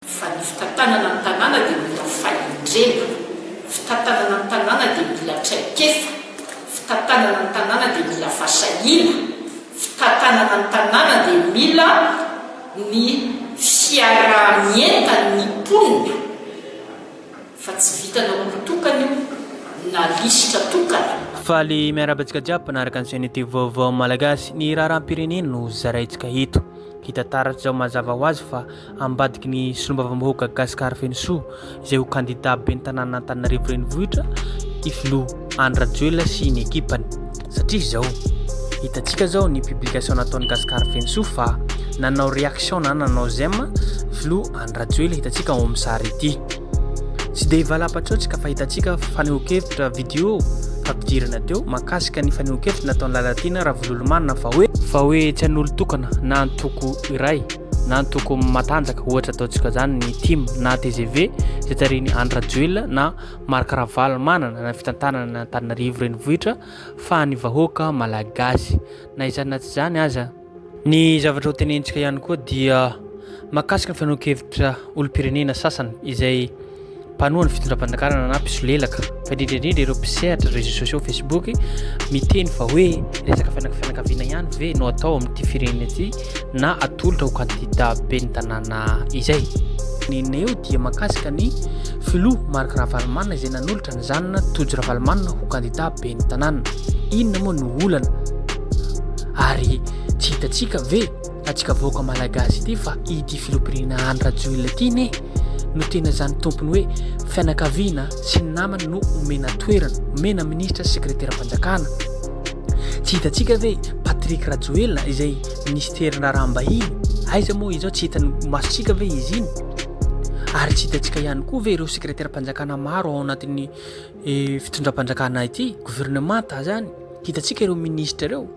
Fa ny fitantanana ny tanàna dia mila fahendrena, fitantanana ny tanàna dia mila traikefa, fitantanana ny tanàna dia mila fasahiana, fitantanana ny tanàna dia mila ny fiaraha-mientan'ny mponina fa tsy vitanao olon-tokana io na lisitra tokana. Faly miarahaba antsika jiaby mpanaraka ny chaînette vaovao malagasy, ny raharaham-pirenena no zaraintsika eto. Hita taratra izao mazava ho azy fa ambadiky ny solombavambahoaka Gascar Fenosoa izay ho kandida ben'ny tanànan'Antananarivo Renivohitra i filoha Andry Rajoelina sy ny ekipany satria izao hitantsika zao ny publication nataon'i Gascar Fenosoa fa nanao réaction na nanao j'aime filoha Andry Rajoelina hitantsika ao amin'ny sary ity tsy dia valam-patsaontsika fa hitantsika fanehoan-kevitra vidéo fampidirana teo makasika ny fanehoan-kevitra nataon'i Lalatiana Ravololomanana fa hoe fa hoe tsy an'olon-tokana na antoko iray na ny toko matanjaka ohatra ataontsika izany ny tim na tgv izay tarihin'i Andry Rajoelina na Marc Ravalomanana na fitantanana Antananarivo renivohitra fa ny vahoaka malagasy na izany na tsy izany aza ny zavatra ho tenentsika ihany koa dia makasika ny fanoan-kevitra olom-pirenena sasany izay mpanoha ny fitondram-pandakarana na mpisolelaka fa indrindra indrindra ireo mpisehatra réseaux sociaux Facebook miteny fa hoe resaka fianakaviana ihany ve no atao amin'ity firenena ity na atolotra ho kandida ben'ny tanàna izay nena eo dia makasika ny filoha Marc Ravalomanana izay nanolotra ny zanana Tojo Ravalomanana ho kandida ben'ny tanàna inona moa no olana ary tsy hitatsika ve Antsika vahoaka malagasy ity fa ity filoham-pirenena Andry Rajoelina ity anie no tena izany tompony hoe fianakaviana sy ny namany no omena toerana, omena minisitra sy sekreteram-panjakana. Tsy hitantsika ve Patrick Rajoelina izay ministerin raharaham-bahiny? Aiza moa izao tsy hitan'ny masontsika ve izy iny? Ary tsy hitantsika ihany koa ve ireo sekreteram-panjakana maro ao anatin'ny eh, fitondram-panjakana ity, governemanta izany? Hitantsika ireo minisitra ireo?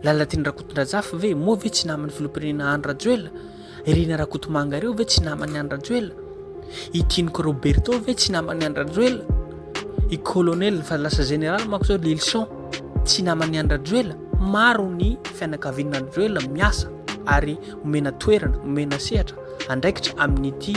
Lalatiana Rakotondrajafy ve? Moa ve tsy naman'ny filoham-pirenena Andry Rajoelina? Irina Rakotomanga ireo ve tsy naman'ny Andry Rajoelina? I Tiniko Roberto ve tsy naman'ny Andry Rajoelina? I Colonel fa lasa Général manko zao Lilson tsy naman'ny Andry Rajoelina? Maro ny fianakavian'ny Andry Rajoelina miasa ary omena toerana, omena sehatra, andraikitra amin'ity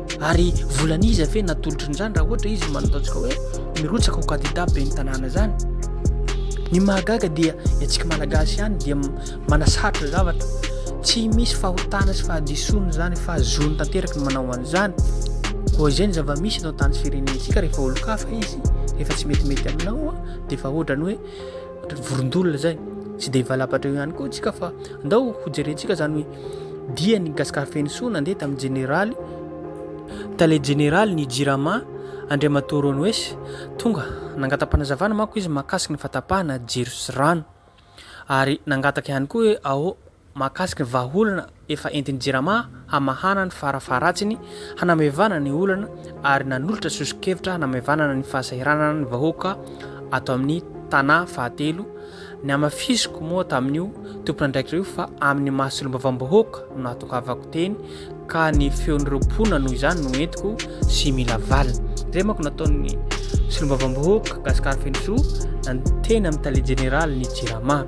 Ary volan'iza ve no atolotry ny zany raha ohatra izy manao ataontsika hoe mirotsaka ho candidat ben'ny tanàna zany? Ny mahagaga dia ny antsika malagasy ihany dia manasarotra zavatra. Tsy misy fahotana sy fahadisoana zany fa zony tanteraka ny manao an'izany. Koa izay ny zava-misy eto an-tany sy firenentsika rehefa olon-kafa izy, rehefa tsy metimety aminao dia efa ohatrany hoe vorondolona zay. Tsy dia hivalapatra eo ihany koa tsika fa ndao hojerentsika zany hoe diany Gascar Fenosoa nandeha tamin'ny Jeneraly Tale Jeneraly ny Jirama Andriamatoa Ronoes tonga nangata-panazavana manko izy mahakasika ny fahatapahana jiro sy rano ary nangataka ihany koa hoe ao mahakasika ny vahaolana efa entin'ny Jirama hamahana ny farafaharatsiny hanamevana ny olana ary nanolotra soso-kevitra hanamevana ny fahasahiranana ny vahoaka ato amin'ny tanà fahatelo Ny hamafisiko moa tamin'io tompon'andraikitra io fa amin'ny maha solombavambahoaka no nahatongavako teny ka ny feon'ireo mponina noho izany no entiko sy mila valiny. Izay manko nataon'ny solombavambahoaka Gascar Fenosoa nandro teny amin'ny tale jeneraly ny Jirama.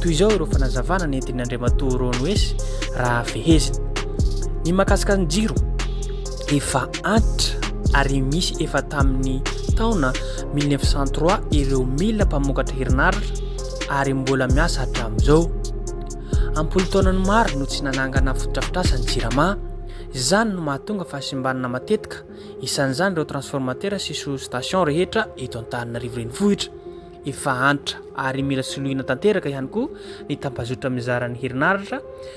Toy izao ireo fanazavana nentin'i Andriamatoa Ronwes raha fehezina. Ny mahakasika ny jiro, efa antitra ary misy efa tamin'ny taona mille neuf cent trois ireo mila mpamokatra herinaratra ary mbola miasa hatramin'izao. Am-polon-taonany maro no tsy nanangana fotodrafitrasa ny Jirama, izany no mahatonga fahasimbanana matetika, isan'izany ireo transformateurs sy sous-stations rehetra eto Antananarivo Renivohitra. Efa antitra ary mila soloina tanteraka ihany koa ny tambazotra mizara ny herinaratra,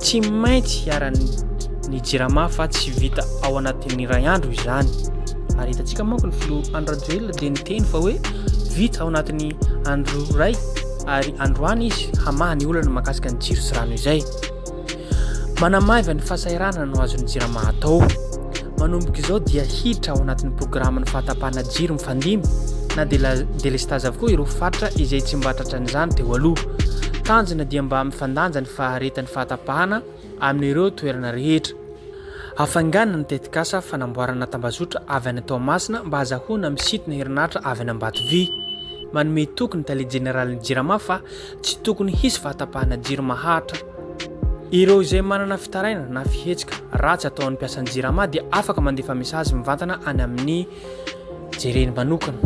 Tsy maintsy hiharan'ny Jirama fa tsy vita ao anatin'ny iray andro izany. Ary hitantsika manko ny filoha Andry Rajoelina dia niteny fa hoe vita ao anatin'ny andro iray ary androany izy hamaha ny olana mahakasika ny jiro sy rano izay. Manamaiva ny fahasahiranana no azon'ny Jirama atao. Manomboka izao dia hiditra ao anatin'ny programan'ny fahatapahana jiro mifandimby na dia delestazy avokoa ireo faritra izay tsy mba tratran'izany teo aloha. Tanjona dia mba mifandanja ny faharetan'ny fahatapahana amin'ireo toerana rehetra. Hafaingana ny tetikasa fanamboarana tambazotra avy any Toamasina mba hazahoana misintona herinaratra avy any Ambatovy. Manome toky ny tale jeneralin'ny Jirama fa tsy tokony hisy fahatapahana jiro maharitra. Ireo izay manana fitarainana na fihetsika ratsy ataon'ny mpiasan'ny Jirama dia afaka mandefa mesazy mivantana any amin'ny jereny manokana.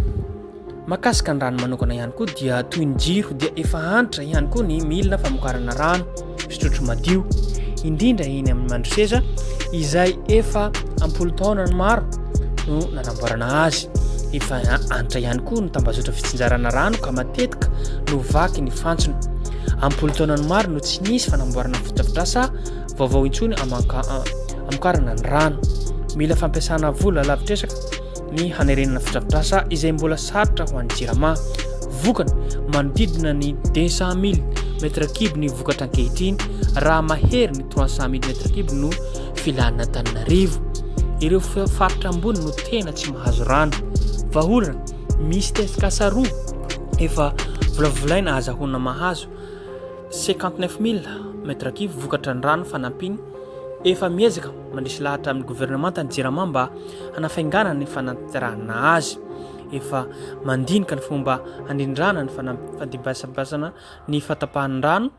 Mahakasika ny rano manokana ihany koa dia toy ny jiro dia efa antitra ihany koa ny milina famokarana rano fisotrotro madio, indrindra eny amin'ny Mandroseza izay efa ampolo taonany maro no nanamboarana azy. Efa antitra ihany koa ny tambazotra fitsinjarana rano ka matetika no vaky ny fantsona. Ampolo taonany maro no tsy nisy fanamboarana fotodrafitrasa vaovao intsony amokarana ny rano. Mila fampiasana vola lavitresaka ny hanerenana fotodrafitrasa izay mbola sarotra ho an'ny Jirama. Vokany, manodidina ny 200.000 mètres cubes ny vokatra ankehitriny raha mahery ny 300.000 mètres cubes no filan'Antananarivo. Ireo faritra ambony no tena tsy mahazo rano. Vahaolana, misy tetikasa roa efa volavolaina ahazahoana mahazo 59.000 mètres cubes vokatra ny rano fanampiny efa miezaka Mandresy lahatra amin'ny governemanta ny Jirama mba hanafainganana ny fanatirana azy. Efa mandinika ny fomba handrindrana ny fandibasabasana ny fatapahan'ny rano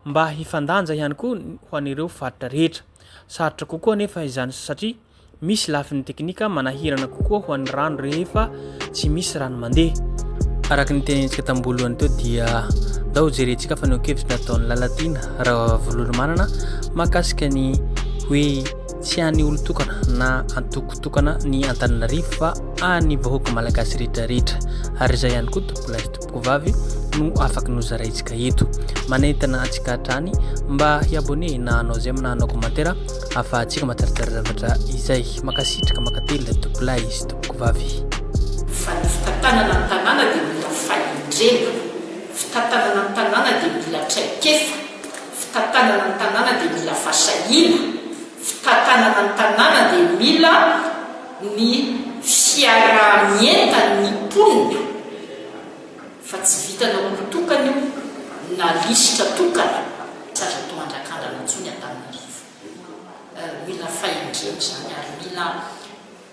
mba hifandanja ihany koa ho an'ireo faritra rehetra. Sarotra kokoa anefa izany satria misy lafiny teknika manahirana kokoa ho an'ny rano rehefa tsy misy rano mandeha. Araka ny tenenintsika tambolohany teo dia ndao jerentsika fanehoan-kevitry ny ataon'i Lalatiana Ravololomanana mahakasika ny hoe tsy an'ny olon-tokana na antoko tokana ny Antananarivo fa an'ny vahoaka malagasy rehetra rehetra ary izay ihany koa Tompolahy Kovavy no afaka nozaraintsika eto. Manentana antsika hatrany mba hi-abonné na hanao j'aime na hanao commentaire ahafahantsika matsaratsara zavatra izay. Makasitraka makatelina tompolahy sy tompokovavy. Fa ny fitantanana ny tanàna dia mila fahendrena, fitantanana ny tanàna dia mila traikefa, fitantanana ny tanàna dia mila fasahiana, fitantanana ny tanàna dia mila. ny fiaraha-mientan' ny mponina fa tsy vitan' olon-tokana io na lisitra tokana, tsy azo atao andrakandrana intsony Antananarivo. Mila fahendrena izany ary mila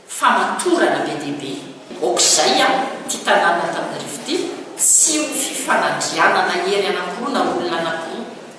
famatorana be dia be. Aoka izay an, ity tanànan' Antananarivo ity tsy ho fifanandrianana hery anankiroa na olona anankiroa